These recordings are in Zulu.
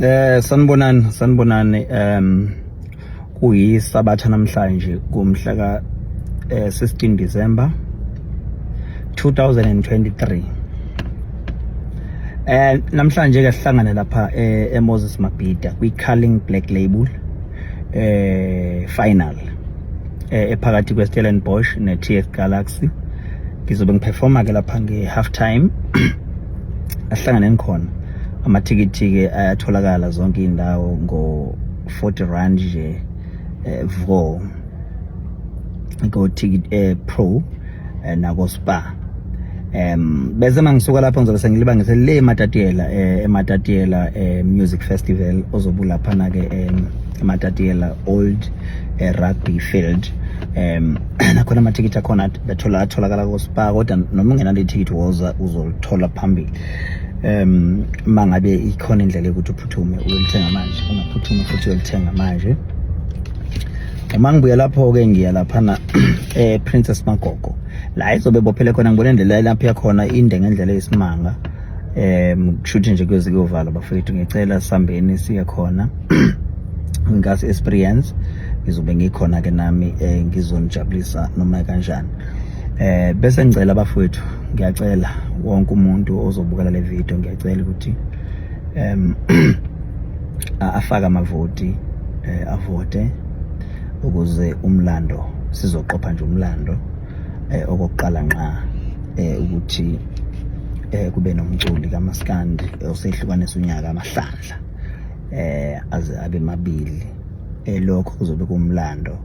Eh sanibonani sanibonani um kuyisabatha namhlanje kumhla ka eh, 16 December 2023 eh namhlanje ke sihlangane lapha eh, eMoses Mabhida kwiCarling Black Label eh final eh, ephakathi kweStellenbosch neTS Galaxy ngizobe ngiperforma ke lapha ngehalf time ahlangane ngikhona amathikithi-ke ayatholakala zonke iy'ndawo ngo-40 rand nje eh, vo ko-ticket eh, pro eh, nako-spa um bese uma ngisuka lapho ngizobe sengilibangise le ematatiela eh, ematatiela eh, music festival ozobe ulaphana-ke eh, ematatiela old eh, rugby field um nakhona amathikithi akhona atholakala kospa kodwa noma ungenalo ithikithi woza uzolithola phambili um uma ngabe ikhona indlela yokuthi uphuthume uyolithenga manje ungaphuthuma futhi uyolithenga manje uma ngibuya lapho-ke ngiya laphana eprincess magogo la izobe bophele khona ngibona indlela lapho yakhona inde ngendlela yesimanga um kushuthi nje kuyoze kuyovala bafethu ngicela sihambeni siye khona ngase experience ngizobe ngikhona ke nami eh, ngizonijabulisa noma kanjani eh bese ngicela bafowethu ngiyacela wonke umuntu ozobukela le video ngiyacela ukuthi em afaka amavoti eh, avote ukuze umlando sizoqopha nje umlando eh okokuqala nqa eh ukuthi eh kube nomculi kamaskandi eh, osehlukanisa unyaka amahlandla eh aze abe mabili eh lokho kuzobe kumlando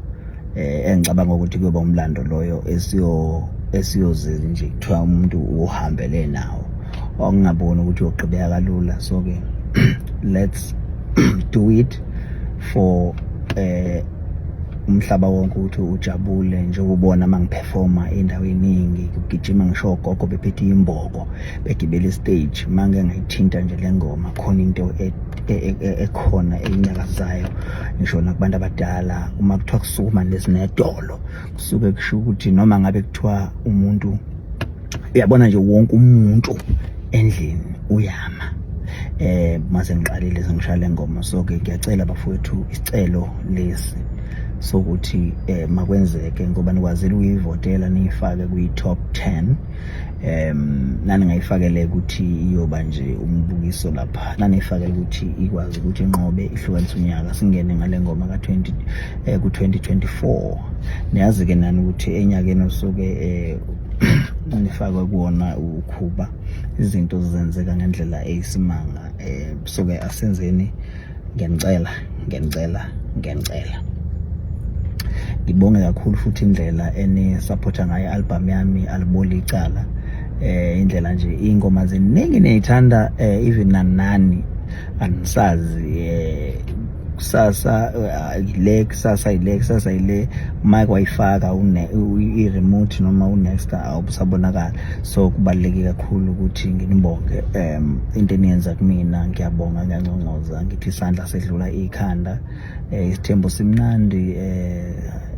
eh engicabanga ukuthi kuyoba umlando loyo esiyo esiyozile nje kuthiwa umuntu uhambele nawo ongaboni ukuthi uyogqibeka kalula so ke let's do it for eh umhlaba wonke ukuthi ujabule njengobona uma ngiphefoma indawo eningi kugijima ngisho ogogo bephethe imboko begibele istage uma ngike ngayithinta nje le ngoma khona into e, e, e, ekhona eyinyakazayo ngisho nakubantu abadala uma kuthiwa kusukuma nezinedolo kusuke kusho ukuthi noma ngabe kuthiwa umuntu uyabona nje wonke umuntu endlini uyama eh mase ngiqalile sengishale ngoma so ke ngiyacela bafowethu isicelo lesi sokuthi eh makwenzeke ngoba nikwazile ukuyivotela niyifake kwi top 10 em nani ngayifakele ukuthi iyoba nje umbukiso lapha nani ifakele ukuthi ikwazi ukuthi inqobe ihlukanisa unyaka singene ngale ngoma ka 20 eh ku 2024 niyazi ke nani ukuthi enyakeni osuke eh nifakwe kuwona ukhuba izinto zenzeka ngendlela eyisimanga um suke asenzeni ngiyanicela ngiyanicela ngiyanicela ngibonge kakhulu futhi indlela enisaphotha ngayo i-albhamu yami aliboli icala eh indlela nje ingoma ziningi niyithanda eh even nanani anisazi eh kusasa uh, ile kusasa ile kusasa ile mic wayifaka i remote noma u next awusabonakala so kubaluleke kakhulu ukuthi nginibonge um into eniyenza kumina ngiyabonga ngiyanconcoza ngithi isandla sedlula ikhanda eh, isithembu simnandi eh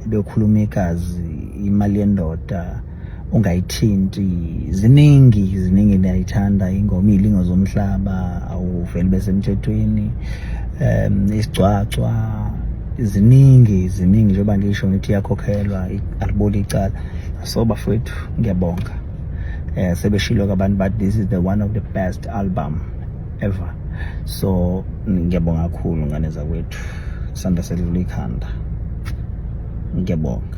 bekhuluma igazi imali yendoda ungayithinti ziningi ziningi ndiyayithanda ingoma iyilingo zomhlaba awuveli besemthethweni um isigcwagcwa ziningi ziningi njengoba ngisho ngithi iyakhokhelwa aliboli icala so bafowethu ngiyabonga um sebeshilo kabantu but this is the one of the best album ever so ngiyabonga kakhulu ngane zakwethu sanda selula ikhanda ngiyabonga